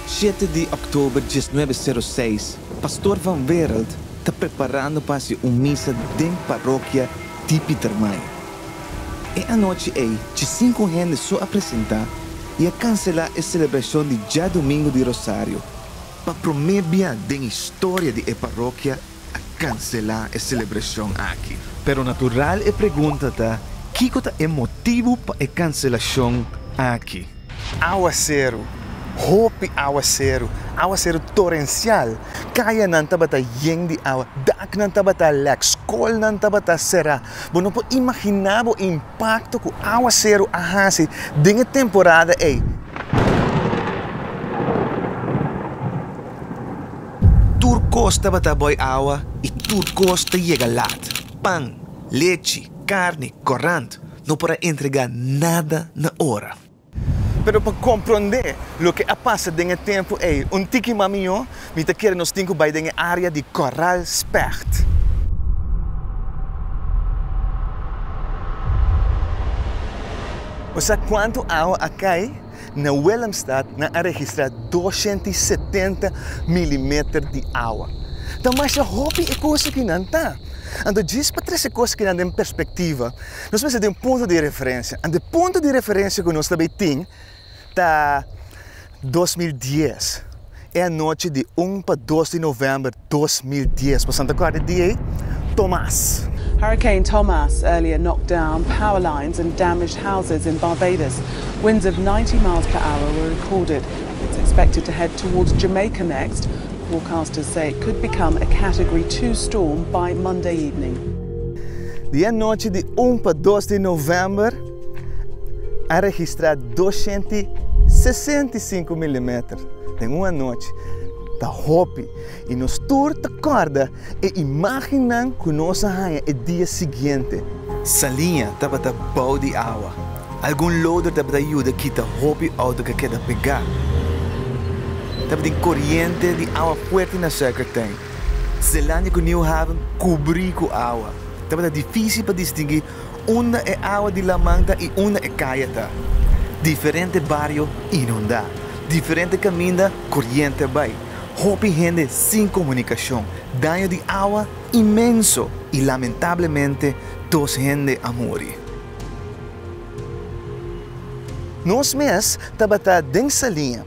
Shete di Oktober diesnuebe sero seis, Pastor Van Wereld ta preparando pa hasi un misa den Parokia di Pietermaai. E anochi ei chi sinku hende so a presentá i a kanselá e selebrashon di Djadomingo di Rosario. Pa promé bia den historia di e parokia, a cancelá e celebracion aki. Pero natural e pregunta ta, kico ta e motibu pa e cancelacion aki? Awaceru, hopi awaceru, awaceru torencial, cayanan tabata yen di awa, daknan tabata lek, scolnan tabata cerá, bo no por imaginá bo. pakto ku áwaseru a hasi den e temporada ei, tur kos tabata bòi awa i tur kos ta yega lat, pan, lechi, karni, kòrant, no por a entregá nada na ora. Pero pa komprondé loke a pasa den e tempu ei un tiki mas mihó, mi ta kere nos tin ku bai den e área di Corral Specht. Bo sa kuantu awa a kai? Na Willemstad nan a registrá doshènt i setenta milimeter di awa. Ta masha hopi e kos akinan ta. Anto djis pa trese kos akinan den perspektiva. Nos mester tin un punto di referencia. Ante punto di referencia cu nos ta bay tin ta dos mil dies. E anochi di un pa dos di november dos mil dies. Boso ta acorda di ey? Tomas. Hurricane Tomas earlier knocked down power lines and damaged houses in Barbados. Winds of ninety miles per hour were recorded. It's expected to head towards Jamaica next. Forecasters say it could become a category two storm by Monday evening. Di e nochi di un pa dos di novèmber a registrá doscientu i sesenta i sinku milimeter den un anochi. Ta hopi, i nos tur ta kòrda e imágennan ku nos a haña e dia siguiente. Saliña tabata bou di awa. Algun loader tabata yuda kita hopi outo ku a keda pegá. Tabatin koriente di awa fuerte na Suikertèn. Zelandia ku Niu Haven kubrí ku awa. Tabata difísil pa distingui unda e awa di laman ta i unda e kaya ta. Diferente bario inundá. Diferente kaminda koriente bai. Hopi hende sin komunikashon. Daño di awa inmenso i lamentablemente dos hende a muri. Nos mes tabata den Saliña.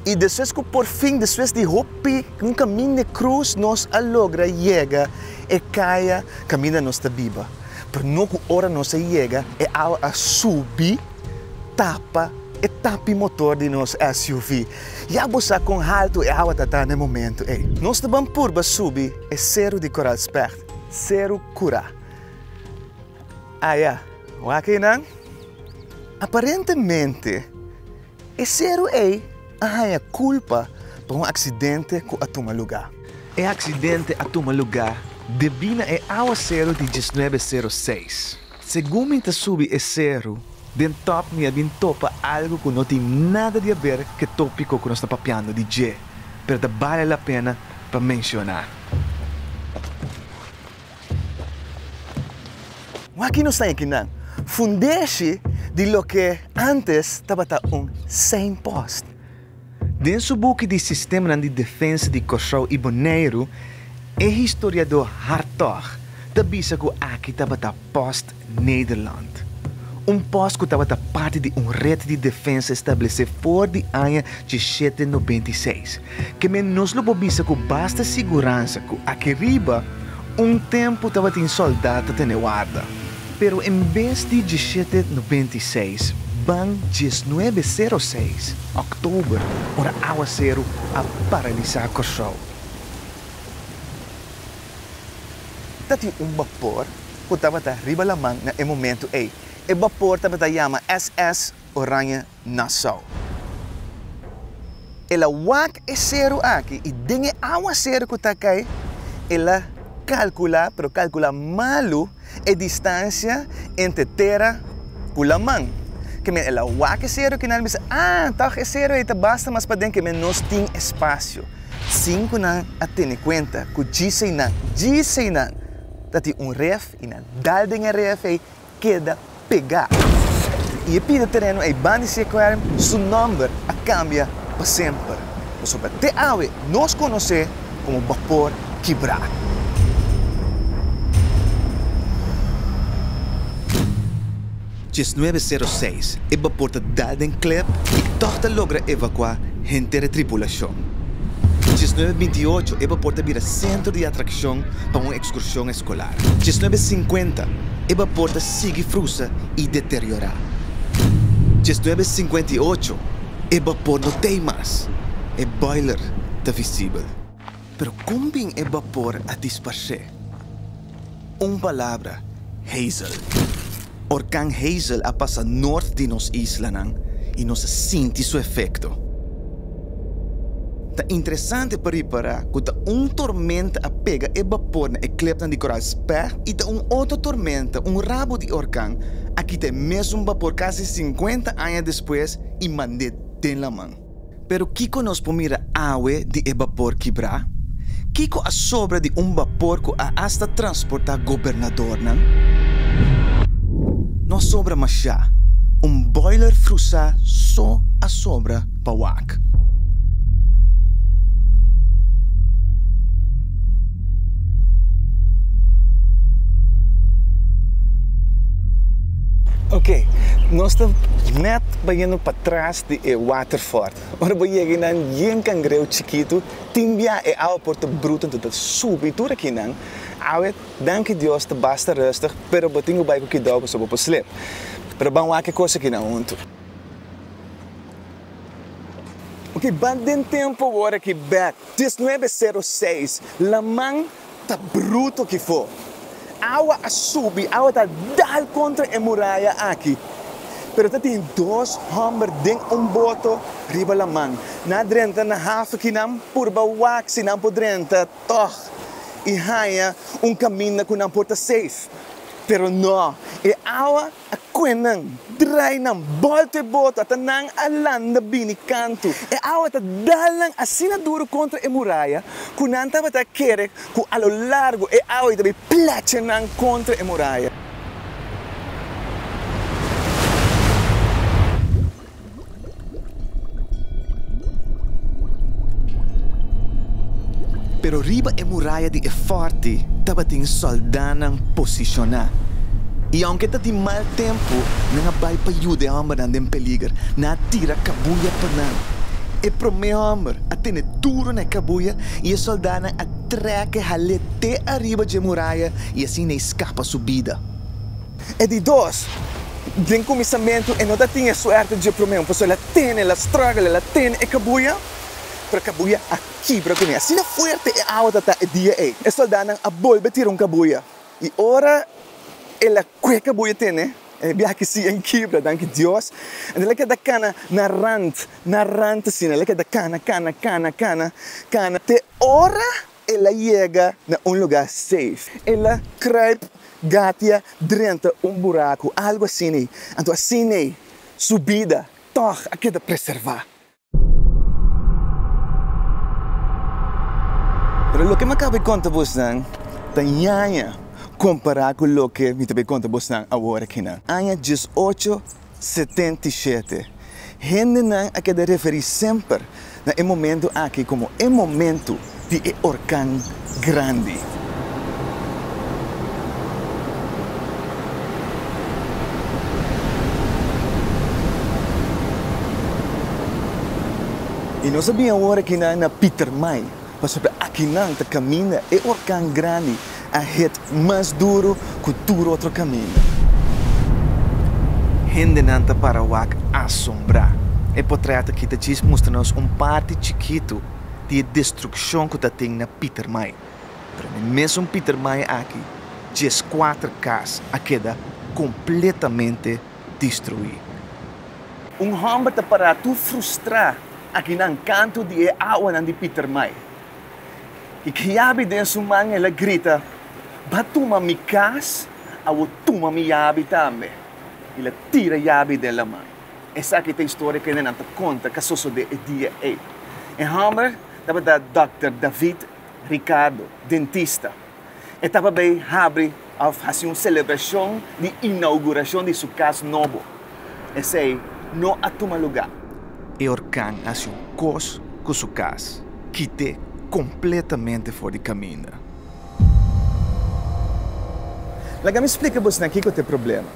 i despues ku porfin, despues di hopi un kaminda e krus, nos a logra yega e kaya kaminda nos ta biba. Pero no ku ora nos a yega, e awa a subi tapa e tapi motor di nos SUV. Ya bo sa kon haltu e awa ta ta na e momentu ei. Nos ta ban purba subi e seru di Koraalspègt, Seru Kura. Aya, wak ei nan. Aparentemente. E seru ei a haña kulpa pa un aksidente ku a tuma lugá. E aksidente a tuma lugá debí na e awaseru di diesnuebe seru seis. Segun mi ta subi e seru, den tòp mi a bin topa algu ku no tin nada di aber ke tópiko ku nos ta papiando di dje, pero ta bale la pena pa menshoná. Wak-y nos ta e kinan, fundeshi di loke antes tabata un signpost. Den su buki di Sistemanan di Defensa di Kòrsou i Boneiru, e historiadó Hartog ta bisa ku aki tabata post Nederland. Un pòs ku tabata parti di un ret di defensa establesé for di aña dishete nobenta i seis. Ke men nos lo por bisa ku basta siguransa ku aki riba un tempu tabatin sòldat ta tene warda. Pero en bes di dishete nobenta i seis ban diesnuebe sero seis, òktober, ora awaseru a paralisá Kòrsou. Ta tin un bapor ku tabata riba laman na e momentu ei. E bapor tabata yama SS Oranje Nassau. El a wak e seru aki i den e awaseru ku ta kai el a kalkula, pero kalkula malu. E distansia entre tera cu laman. Kemey el a wak e sero cu nan a bisa, Ah, toch e sero ey ta basta mas paden, kemey nos tin espacio. Sin cu nan a tene cuenta cu djisey nan, djisey nan, ta tin un ref y nan dal den e ref ey keda pegá i e pida tereno ei ban di Seaquarium su nòmber a kambia pa semper. Pasobra te awe nos konos'é komo Bapor Kibrá. Diesnuebe sero seis, e bapor ta dal den klep i tòg ta logra evakuá henter e tripulashon. Diesnuebe binti ocho, e bapor ta bira sentro di atrakshon pa un ekskurshon eskolar. Diesnuebe sinkuenta eba por ta sigui frusa i deteriorá. Diesnuebe sinkuenta i ocho e bapor no ta ei mas, e boiler ta visibel. Pero kon bin e bapor a disparsé? Un palabra, Hazel. Orkan Hazel a pasa nort di nos islanan i nos a sinti su efekto. Ta interesante pa ripará ku ta un tormenta a pega e bapor na e klepnan di Koral Speh i ta un otro tormenta, un rabo di orkan, a kita e mesun bapor kasi sinkuenta aña despues i mand'é den laman. Pero kiko nos por mira awe di e bapor kibrá? Kiko a sobra di un bapor ku a asta transportá gobernadornan? No a sobra mashá, un boiler frusá so a sobra pa wak. Oke, nos ta nèt bayendo patras di e Waterford. Ora bo yega einan yen cangreu chikitu, tin bia e awe por ta bruto anto ta subi i tur akinan awe danki Dios ta basta rustig pero bo tin cu bai cu kidao pasobra bo por slep. Pero ban wak e cos akinan hunto. Oke, ban den tempo word aki Beth, dies nuebe sero seis, laman. ta bruto ki fo. Awa a subi, awa ta dal kontra e muraya aki. Pero ta tin dos hòmber den un boto riba laman. Nan a drenta na hafi ki nan purba wak si nan por drenta tòg i haña un kaminda ku nan por ta seif. Pero nò, e awa A kue nan drai nan bòlta e bota ta nan a landa bini kantu. E awa ta dal nan asina duru kontra e muraya ku nan tabata a kere ku a lo largu e awa ta bai plecha nan kontra e muraya. Pero riba e muraya di e fòrti tabatin sòldánan posishoná, i ounke ta di mal tempu, nan a bai pa yuda e hòmbernan den peliger. Nan a tira kabuya pa nan. E promé hòmber a tene duru na e kabuya, i e sòldánan a trèk e hal'é te ariba dje muraya i asin e skapa su bida. E di dos, den kuminsamentu e no ta tin e suerte dje promé un persona el a tene, el a struggle, el a tene e kabuya, pero e kabuya a kibra kuné. Asina fuerte e awa ta ta e dia ei. E soldánan a bolbe tira un kabuya i ora el a kue kabuya tene, e biaha ki si en kibra, danki Dios, enton el a keda kana na rant, na rant asina, el a keda kana, kana, kana, kana, kana te ora El a yega na un lugá safe. El a kruip gatia drenta un buraku, algu asin'ei. Anto asin'ei su bida tòg a keda preservá. Pero loke mi a kaba di konta bosnan ta ñaña kompará ku loke mi ta bai konta bosnan awor akinan. Aña diesocho setenta i shete. Hendenan a keda referí semper na e momentu aki komo e momentu di e orkan grandi. I nos a bin awor akinan na Pietermaai, Pasobra akinan ta kaminda e orkan grandi a hit mas duru ku tur otro kaminda. Hendenan ta para wak asombrá. E potrèt aki ta djis mustra nos un parti chikitu di e destrukshon ku ta tin na Pietermaai. Pero na e mesun Pietermaai aki djes kuater kas a keda kompletamente destruí. Un hòmber ta pará tur frustrá. Aki nan kanto di e awanan di Pietermaai. I kiabi den su man el a grita, Ba tuma mi kas, a wou tuma mi yabi tambe. El a tira yabi den laman. Esaki ta historia ku nenan ta konta ku a sosode e dia ei. E hòmber tabata Dòkter David Ricardo, dentista. E taba bay habri of haci un celebracion di inauguracion di su cas nobo. Esey no a tuma lugar. E orkan haci un cos cu su cas, kite completamente for di caminda. Laga mi splica bosnan kico ta e problema.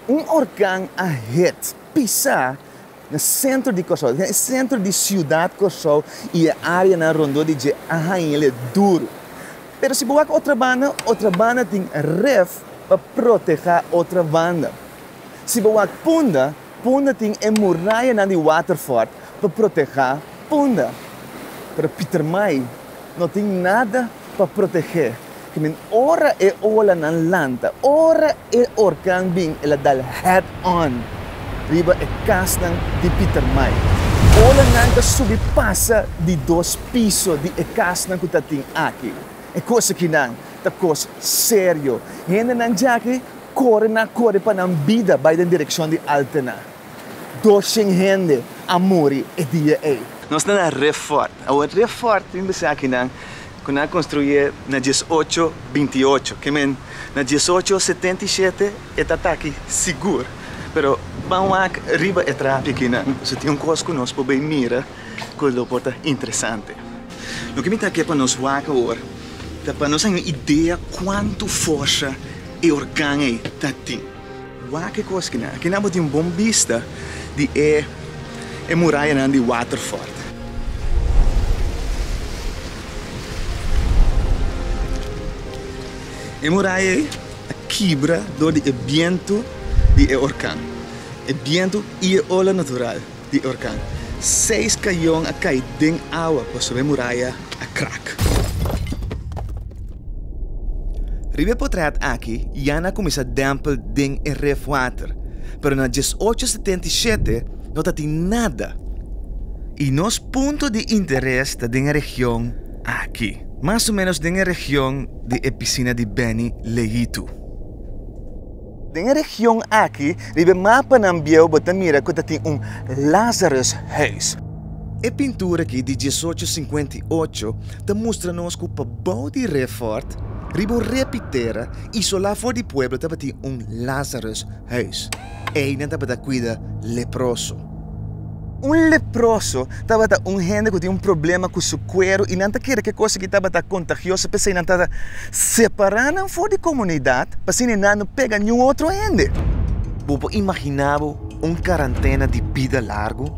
Un orkan a hit, pisa, Na e sentro di Kòrsou, na e sentro di siudat Kòrsou i e áreanan rondó di dje a hañ'le duru. Pero si bo wak otra banda, otra banda tin ref pa protehá otra banda. Si bo wak punda, punda tin e murayanan di Waterfort pa protehá punda. Pero Pietermaai no tin nada. pa protegé kimin ora e olanan lanta, ora e orkan bin el a dal head on riba e kasnan di Pietermaai. Olanan ta subi pasa di dos piso di e kasnan ku ta tin aki. E kos akinan ta kos serio. Hendenan djaki kore na kore pa nan bida bai den direkshon di Altena. Doshen hende a muri e dia ei. Nos ta na re fort. Awor re fort tin besakinan ku nan a konstruye na dies ocho binti i ocho. Ke men na dies ocho setenta i shete e ta taki sigur. Pero ban wak riba e trapi aki nan si tin un kos ku nos por bai mira ku lo por ta interesante. Loke mi ta ke pa nos wak awor ta pa nos haña un idea kuantu forsa e organ ei ta tin. Wak e koskenan. Aki nan bo tin un bon bista di e e murayanan di Waterford. E muraya ei a kibra dor di e bientu di e orkan. E bientu i e ola natural. di orkan. Seis kayon a kai den awa pasobra e muraya a krak. Riba e potrèt aki ya nan a kuminsá dèmpel den e ref water, pero na dies ocho setenta i shete no ta tin nada. I nos punto di interes ta den e region aki, mas o menos den e region di e pisina di Benny Leitu. Den e region aki, riba e mapanan bieu bo ta mira ku ta tin un Lazarus Huis. E pintura aki di diesocho sinkuenta i ocho ta mustra nos ku pabou di Refort, riba un repitera, isolá for di pueblo tabatin un Lazarus Huis. Einan tabata kuida leproso. Un leproso tabata un hende ku tin un problema ku su kueru i nan ta kere ke kos ki tabata kontagioso, p'esei nan ta separá nan for di komunidat p'asina e nan no pega niun otro hende. Bo por imaginá bo un karantena di bida largu?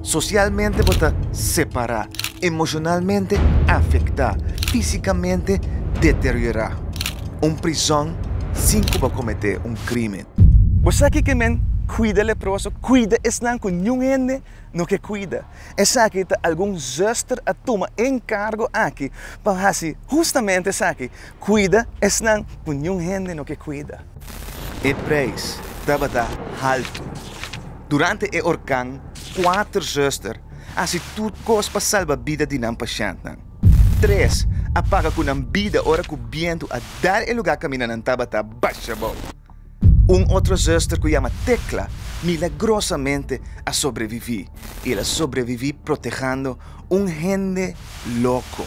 Sosialmente bo ta separá, emoshonalmente afektá, físikamente deteriorá. Un prizòn sin ku bo kometé un krimen. Bo sa kiko men cuida leproso? Cuida esnan cu niun hende no ke cuida. Esaki ta algun zuster a tuma encargo aki pa haci justamente esaki, cuida esnan cu niun hende no ke cuida. E prijs tabata haltu. Durante e orkan, cuater zuster haci tur cos pa salba bida di nan pashentnan. Tres, a paga cu nan bida ora cu bientu a dar e lugar camina nan tabata basha bao. Un otro zuster cu yama Tecla milagrosamente a sobrevivi y el a sobrevivi protehando un hende loco.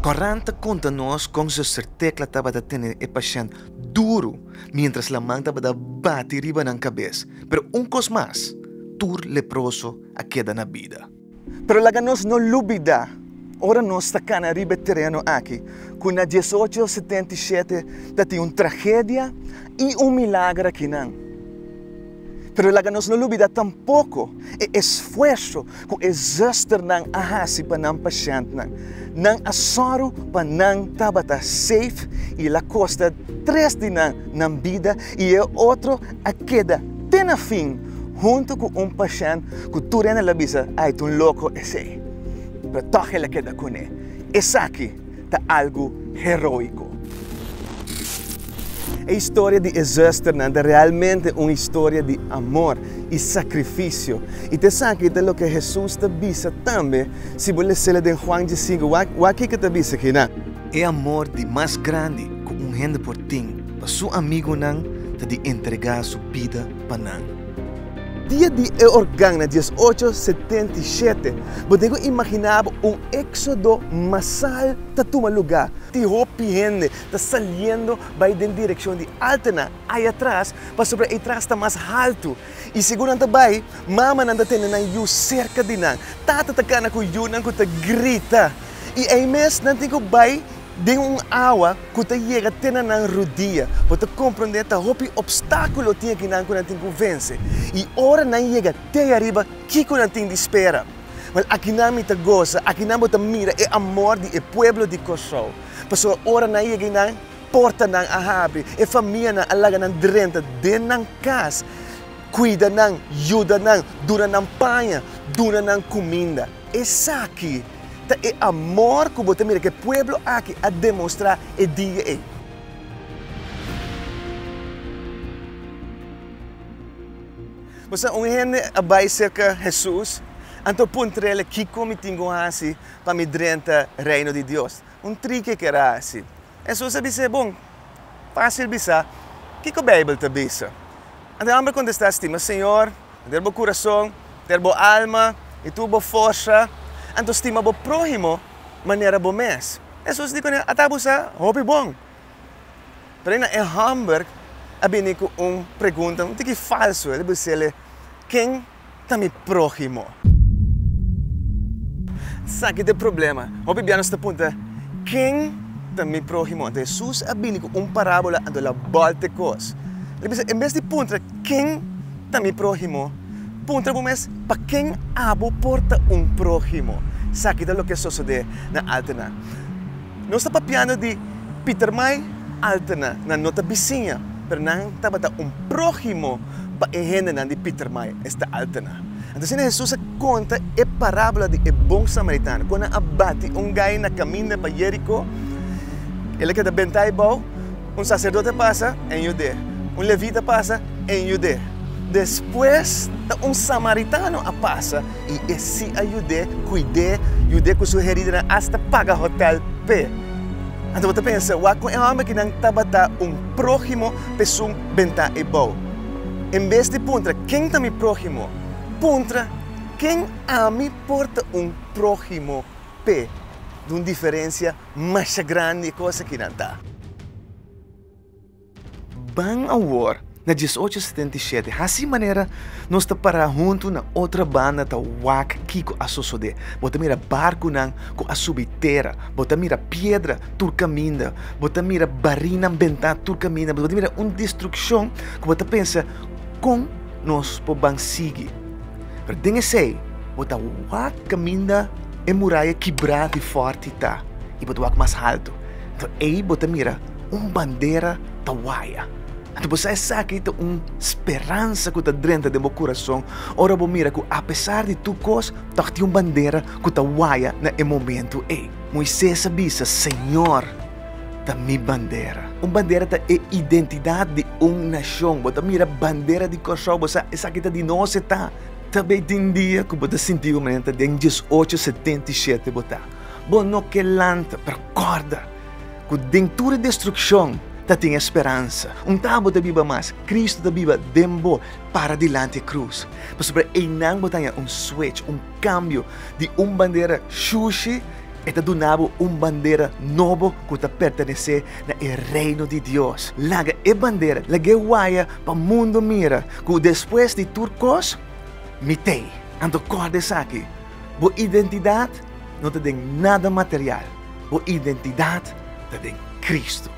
Quaranta conta nos con zuster Tecla tabata tene e pashent. duru mientras laman tabata bati riba nan cabes, pero un cos mas, tur leproso a keda na bida. Pero laga nos no lubida, ora nos ta cana riba e tereno aki, cu na diesocho setenta i shete tatin un tragedia y un milager akinan. Pero laga nos no lubida tampoko e esfuerso ku e zusternan a hasi pa nan pasientnan. Nan a sòru pa nan tabata seif i el a kosta tres di nan nan bida i e otro a keda te na fin huntu ku un pasient ku tur hende lo a bisa, Ai, ta un loko esei! Pero tòg el a keda kuné. Esaki ta algu heroiko. E historia di e zusternan ta realmente un historia di amor i sakrifisio. I ta esaki ta loke Hesus ta bisa tambe. Si bo lesela den Juan diesinku, wak ki ke ta bisa aki nan. E amor di mas grandi ku un hende por tin pa su amigunan ta di entregá su bida pa nan. Dia di e orkan na dies ocho setenta i shete, bo den ku imaginá bo un éksodo masal ta tuma lugá. Tin hopi hende ta saliendo bai den direkshon di Altena, ayatras, pasobra eytras ta mas haltu. I segun nan ta bai, mamanan ta tene nan yu serka di nan, tata ta kana ku yunan ku ta grita. I ei mes nan tin ku bai. Den un awa ku ta yega te na nan rudia, bo ta komprondé ta hopi opstákulo o tieku nan ku nan tin ku vense. I ora nan yega te ariba, kiko nan tin di spera? Wel, akinan mi ta gosa, akinan bo ta mira e amor di e pueblo di Kòrsou. Pasobra ora nan yega einan, portanan a habri, e famianan a laga nan drenta den nan kas, kuida nan, yuda nan, duna nan paña, duna nan kuminda. Esaki. Ta e amor ku bo ta mira ku e pueblo aki a demostrá e dia ei. Bo sa un hende a bai serka Hesus, anto puntr'el, Kiko mi tin ku hasi pa mi drenta Reino di Dios? Un triki e kera hasi. Hesus a bisa e, Bon, fásil bisá kiko Beibel ta bisa. Anto e hòmber a kontestá, Stima Señor, enter bo kurason, enter bo alma i tur bo forsa, anto stima bo próhimo manera bo mes. Hesus di kuné, Ata abusá hopi bon. Pero eina e hòmber a bini ku un pregunta un tiki falsu. El a bis'é, Ken ta mi próhimo. Esaki ta e problema. Hopi bia nos ta punta, Ken ta mi próhimo? Anto Hesus a bini ku un parábola anto el a bòlte kos. El a bisa, En bes di puntra, Ken ta mi próhimo? Puntra bo mes, Pa ken abo por ta un próhimo? Esaki ta loke a sosodé na Altenan. Nos ta papiando di Pietermaai Altena, nan no ta bisiña, pero nan tabata un próhimo pa e hendenan di Pietermaai, esta Altena. Anto asina Hesus a konta e parábola di e bon samaritano. Kon nan a bati un gai na kaminda pa Jeriko, el a keda bentai bou, un saserdote pasa, en yud'é, un levita pasa, en yud'é, despues ta un samaritano a pasa. I e si a yud'é, kuid'é, yud'é ku su heridanan, asta paga hotèl p'e. Anto bo ta pensa, Wak ku e hòmber ku nan tabata un próhimo p'esun ben ta e bou. En bes di puntra, Ken ta mi próhimo? puntra, Ken ami por ta un próhimo p'e? Dun diferensia masha grandi e kos aki nan ta. Ban awor na diesocho setenta i shete, hasi manera nos ta para huntu na otra banda ta wak kiko a sosode. Bo ta mira barkunan ku a subi tera, bo ta mira piedra tur kaminda, bo ta mira barinan bentá tur kaminda, bo ta mira un destrukshon ku bo ta pensa, Kon nos por ban sigui? Pero den esei bo ta wak kaminda e muraya kibrá di fòrti ta i bo ta wak mas haltu. Ei bo ta mira. un bandera ta waya. Anto bo sa esaki ta un speransa ku ta drenta den bo kurason ora bo mira ku apesar di tur kos tòg tin un bandera ku ta waya na e momentu ei. Moises a bisa, Señor ta mi bandera. Un bandera ta e identidat di un nashon. Bo ta mira bandera di Kòrsou, bo sa esaki ta di nos e ta. Ta bay tin dia ku bo ta sinti ku manera ta den diesocho setenta i shete bo ta. Bo no ke lanta, pero kòrda. Ku den tur e destrukshon ta tin e speransa. Un ta abo ta biba mas, Kristu ta biba den bo para dilanti e krus. Pasobra einan bo ta haña un swech, un kambio di un bandera shushi, e ta duna bo un bandera nobo ku ta pertenesé na e Reino di Dios. Laga e bandera, lag'é waya pa mundu mira ku despues di tur kos, Mi t'ei. Anto kòrda esaki. Bo identidat no ta den nada material, bo identidat ta den Kristu.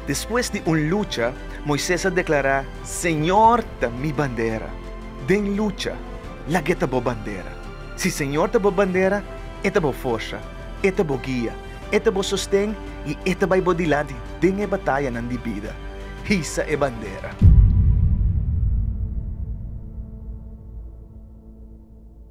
Despues di un lucha, Moises a deklará, Señor ta mi bandera. Den lucha, laga e ta bo bandera. Si Señor ta bo bandera, E ta bo forsa, E ta bo guia, E ta bo sosten i E ta bai bo dilanti den e batayanan di bida. Hisa e bandera!